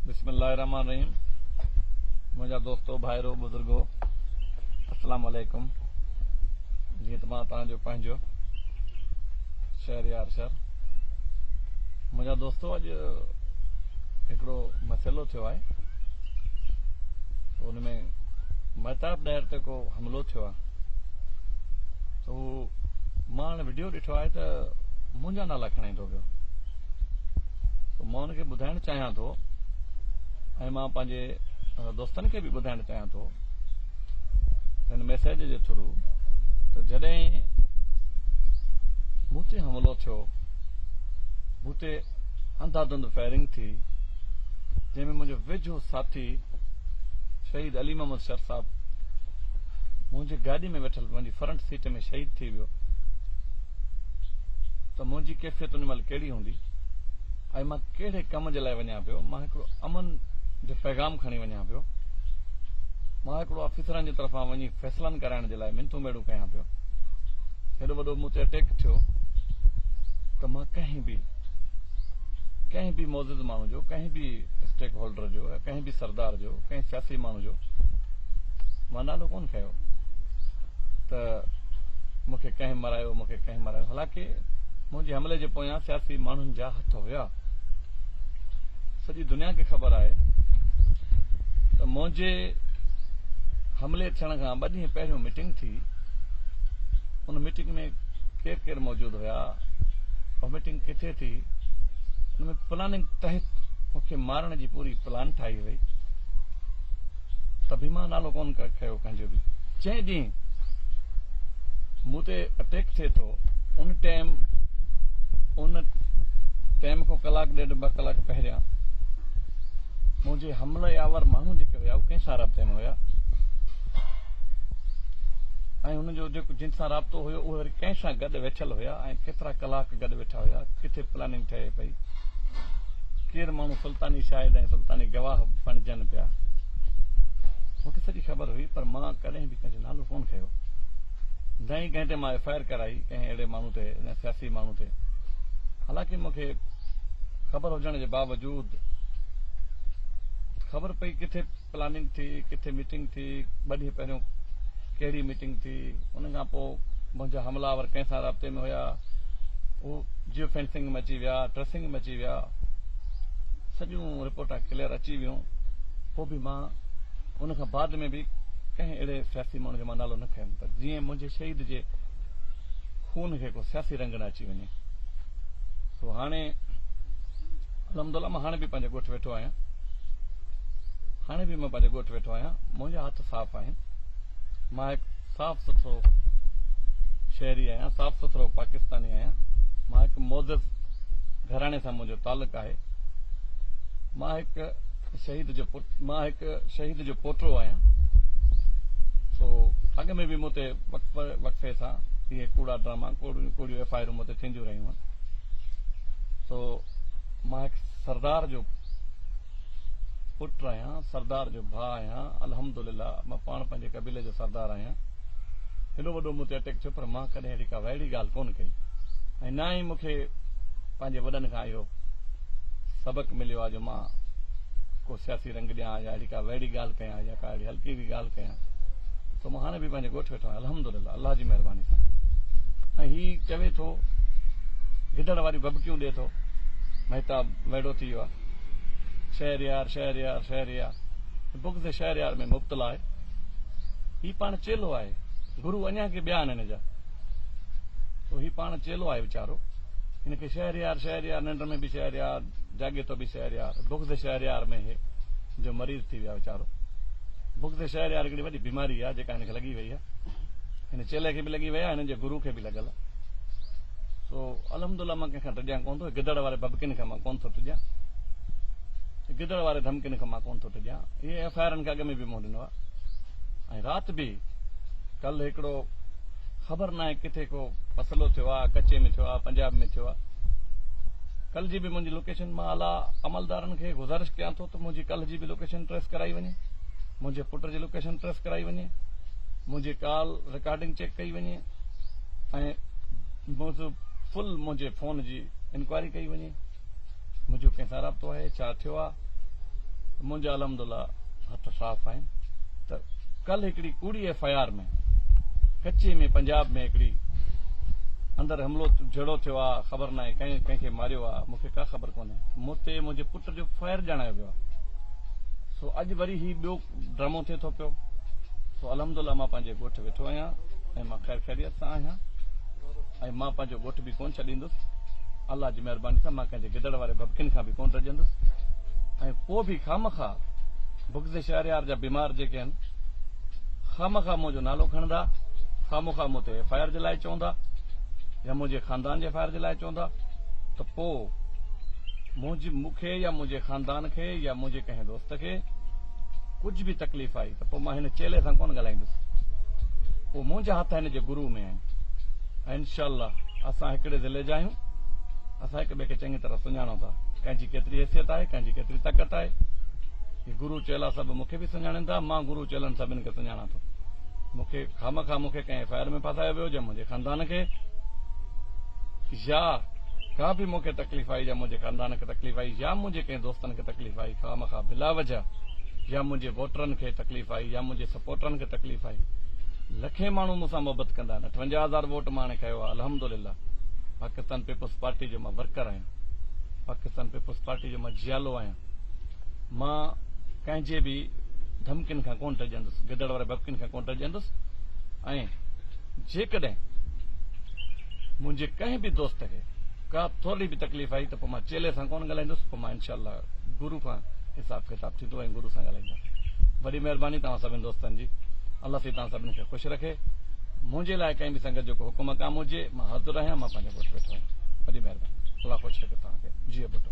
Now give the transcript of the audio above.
بسم الله الرحمن الرحيم منهنجا دوستو ڀائرو بزرگو السلام عليڪم جيئن ته مان توهان جو پنهنجو شهر يار شهر منهنجا دوستو اڄ هڪڙو مسئلو ٿيو آهي ان ۾ مهتاب ڏهر تي ڪو حملو ٿيو آهي هو مان هاڻي وڊيو ڏٺو آهي ته منهنجا نالا کڻي ٿو پيو سو مان ان کي ٻڌائڻ چاهيان ٿو ۽ مان پنهنجي دوستن کي به ٻڌائڻ چاهيان ٿو هن ميسج جي ٿرو ته جڏهن مون تي حملو ٿيو مون تي انڌا دھند فائرنگ ٿي جنهن ۾ منهنجو ويجھو ساٿي شهيد علي محمد شر صاحب منهنجي گاڏي ۾ ويٺل فرنٽ سيٽ ۾ شهيد ٿي ويو ته منهنجي ڪيفيت ان مهل ڪهڙي هوندي ۽ مان ڪهڙي ڪم جي لاء وڃان پيو مان هڪڙو امن جو پيغام کڻي وڃان پيو مان هڪڙو آفيسرن جي طرفان وڃي فيصلن ڪرائڻ جي لاء منٿون ميڙون ڪيان پيو هيڏو وڏو مون تي اٽيڪ ٿيو ته مان ڪنهن به ڪنهن به معزز ماڻهو جو ڪنهن به اسٽيڪ هولڊر جو به سردار جو ڪنهن سياسي ماڻهو جو مان نالو ڪون کنيو ته مون کي ڪنهن مرايو مون کي ڪنهن مرايو حالانڪه منهنجي حملي جي پويان سياسي ماڻهن جا هٿ هيا سڄي دنيا کي خبر آهي ته منهنجي حملي ٿيڻ کان ٻه ڏينهن پهريون ميٽنگ ٿي ان ميٽنگ ۾ ڪير ڪير موجود هيا پيا وامٽنگ ڪٿي ٿي ان ۾ پلاننگ تحت مون کي مارڻ جي پوري پلان ٺاهي وئي ته به مان نالو ڪون کيو ڪنهنجو به جنهن ڏينهن مون تي اٽيڪ ٿئي ٿو ان ٽائم ان ٽائم کان ڪلاڪ ڏيڍ ٻه ڪلاڪ پهريان منهنجي حمله آور ماڻهو جيڪي هيا اهي ڪنهن سان رابطي ۾ هيا ۽ هن جو جن سان رابطو هيو اهي وري ڪنهن سان اتي ويٺل هيا ۽ ڪيترا ڪلاڪ گڏ ويٺا هيا، ڪٿي پلاننگ ٺهي پئي، ڪير ماڻهو سلطاني شاهد ۽ سلطاني گواهه بڻجن پيا. مون کي سڄي خبر هئي، پر مان ڪڏهن به ڪنهن جو نالو ڪونه کنيو، نه ئي ڪنهن تي مان ايف آء آر ڪرائي، ڪنهن اهڙي ماڻهو تي، نه سياسي ماڻهو تي. حالانڪه مون کي خبر هجڻ جي باوجود خبر پئي ڪٿي. پلاننگ ٿي، ڪٿي ميٽنگ ٿي، ٻه ڏينهن پهريون ڪهڙي ميٽنگ ٿي، ان کان پوء منهنجا حمله آور ڪنهن سان رابطي ۾ هيا، هو جيو فينسنگ ۾ اچي ويا، ٽريسنگ ۾ اچي ويا، سڄيون رپورٽان ڪليئر اچي ويون، پوء به مان ان کان بعد ۾ به ڪنهن اهڙي سياسي ماڻهو جو مان نالو نه کنيم ته جيئن منهنجي شهيد جي خون کي ڪو سياسي رنگ نه اچي وڃي. سو هاڻي الحمد الله مان هاڻي به پنهنجي ڳوٺ ويٺو آهيان هاڻي به مان پنهنجي ڳوٺ ويٺو آهيان منهنجا هٿ صاف آهن مان هڪ صاف سٿرو شهري آهيان صاف سٿرو پاڪستاني آهيان مان هڪ معزز گهراڻي سان منهنجو تعلق آهي مان هڪ شهيد جو مان هڪ شهيد جو پوٽو آهيان سو اڳ ۾ به مون تي وقفي وقفي سان اهي ڪوڙا ڊراما ڪوڙيون ڪوڙيون ايف آء آرون مون تي ٿينديون رهيون هن سو مان هڪ سردار جو پٽ آهيان سردار جو ڀاء آهيان الحمدلله مان پاڻ پنهنجي قبيلي جو سردار آهيان هيڏو وڏو مون تي اٽيڪ ٿيو پر مان ڪڏهن اهڙي ڪا وهڙي ڳالهه ڪونه ڪئي ۽ نه ئي مونکي پنهنجي وڏن کان اهو سبق مليو آهي جو مان ڪو سياسي رنگ ڏيان يا اهڙي ڪا وهڙي ڳالهه ڪيان ڪيان يا ڪا اهڙي هلڪي به ڳالهه ڪيان ته مان هاڻي به پنهنجي ڳوٺ ويٺو آهيان الحمدلله الله جي مهرباني سان ۽ هي چوي ٿو گدڙ واريون ڀڀڪيون ڏي ٿو مهتاب ويڙو ٿي ويو آهي شهريار شهريار شهريار بغض شهريار ۾ مبتلا آهي هي پاڻ چيلو آهي گرو اڃا کي ٻيا آهن هن جا تو هي پاڻ چيلو آهي ويچارو ان کي شهريار شهريار ننڊ ۾ به شهريار جاڳي تو به شهريار بغض شهريار ۾ هي جو مريض ٿي ويو آهي ويچارو بغض شهريار هڪڙي وڏي بيماري آهي جيڪا هن کي لڳي وئي آهي هن چيلي کي به لڳي وئي آهي هن جي گرو کي به لڳل آهي سو الحمد لله مان ڪنهن کان ڊڄان ڪون ٿو گدڙ واري ببڪين کان مان ڪون ٿو ڊڄان گدڙ واري ڌمڪين کان مان ڪون ٿو ڊڄان اهي ايف آء آرن کي اڳ ۾ به مون ڏنو آهي ۽ رات به ڪل هڪڙو خبر ناهي ڪٿي ڪو مسئلو ٿيو آ ڪچي ۾ ٿيو آ پنجاب ۾ ٿيو آ ڪل جي به منهنجي لوڪيشن مان اعليٰ عملدارن کي گذارش ڪيان ٿو ته منهنجي ڪل جي به لوڪيشن ٽريس ڪرائي وڃي منهنجي پٽ جي لوڪيشن ٽريس ڪرائي وڃي منهنجي ڪال رڪارڊنگ چيڪ ڪئي وڃي ۽ فل منهنجي فون جي انڪوائري ڪئي وڃي منهنجو ڪنهن سان رابطو آهي ڇا ٿيو آهي ته منهنجا الحمدلله هٿ صاف آهن ته ڪل هڪڙي ڪوڙي ايف آء آر ۾ ڪچي ۾ پنجاب ۾ هڪڙي اندر حملو جھڙو ٿيو آهي خبر ناهي ڪنهن ڪنهن کي ماريو آهي مون کي ڪا خبر ڪونهي مون تي منهنجي پٽ جو فائر ڄاڻايو ويو آهي سو اڄ وري هي ٻيو ڊرامو ٿئي ٿو پيو سو الحمدلله مان پنهنجي ڳوٺ ويٺو آهيان ۽ مان خير خيريت سان آهيان ۽ مان پنهنجو ڳوٺ به ڪونه ڇڏيندس الله جي مهرباني سان مان ڪنهن جي گدڙ واري ڀڀڪين کان به ڪونه ڊڄندس ۽ پوء به خامخا بغض شهريار جا بيمار جيڪي آهن خامخا منهنجو نالو کڻندا خامخا مون تي ايف آء آر جي لاء چوندا يا منهنجي خاندان جي ايف آء آر جي لاء چوندا ته پوء منهنجي مون کي يا منهنجي خاندان کي يا منهنجي ڪنهن دوست تو کي ڪجهه به تڪليف آئي ته پوء مان هن چيلي سان ڪونه ڳالهائيندس. اهو منهنجا هٿ هن جي گروء ۾ آهن ۽ انشاء الله اسان هڪڙي ضلعي جا آهيون. اسان هڪ ٻئي کي چڱي طرح سڃاڻون ٿا. ڪنهن جي ڪيتري حيثيت آهي، ڪنهن جي ڪيتري طاقت آهي. هي گرو چيلا سڀ مون کي به سڃاڻين ٿا. مان گرو چيلن سڀني کي سڃاڻان ٿو. مون کي خامخواه مون کي ڪنهن ايف آء آر ۾ ڦاسايو ويو جا منهنجي خاندان کي يا ڪا به مون کي تڪليف آئي جا منهنجي خاندان کي تڪليف آئي يا منهنجي ڪنهن دوستن کي کي تڪليف آئي خامخواه بلا وجه يا منهنجي ووٽرن کي تڪليف آئي يا منهنجي سپورٽرن کي تڪليف آئي لکين ماڻهو مون سان محبت ڪندا آهن اٺونجاهه هزار ووٽ مان هاڻي کنيو آهي الحمدلله پاڪستان پيپلز پارٽي جو مان ورڪر آهيان پاڪستان پيپلز پارٽي جو مان جيالو آهيان مان ڪنهن جي به ڌمڪين کان ڪون ڊڄندس گدڙ واري ڀڀڪين کان ڪون ڊڄندس ۽ جيڪڏهن منهنجي ڪنهن به دوست کي ڪا ٿورڙي به تڪليف آئي ته پوء مان چيلي سان ڪونه ڳالهائيندس پوء مان انشاء الله گرو کان حساب ڪتاب ٿيندو ۽ گرو سان ڳالهائيندس وڏي مهرباني توهان سڀني دوستن جي الله سي توهان سڀني کي خوش رکي منهنجي لاء ڪنهن به سنگت جو ڪو حڪم ڪام هجي مان حاضر آهيان مان پنهنجو ڳوٺ ويٺو آهيان وڏي مهرباني الله خوش رکي توهان کي جيئي ٻٽو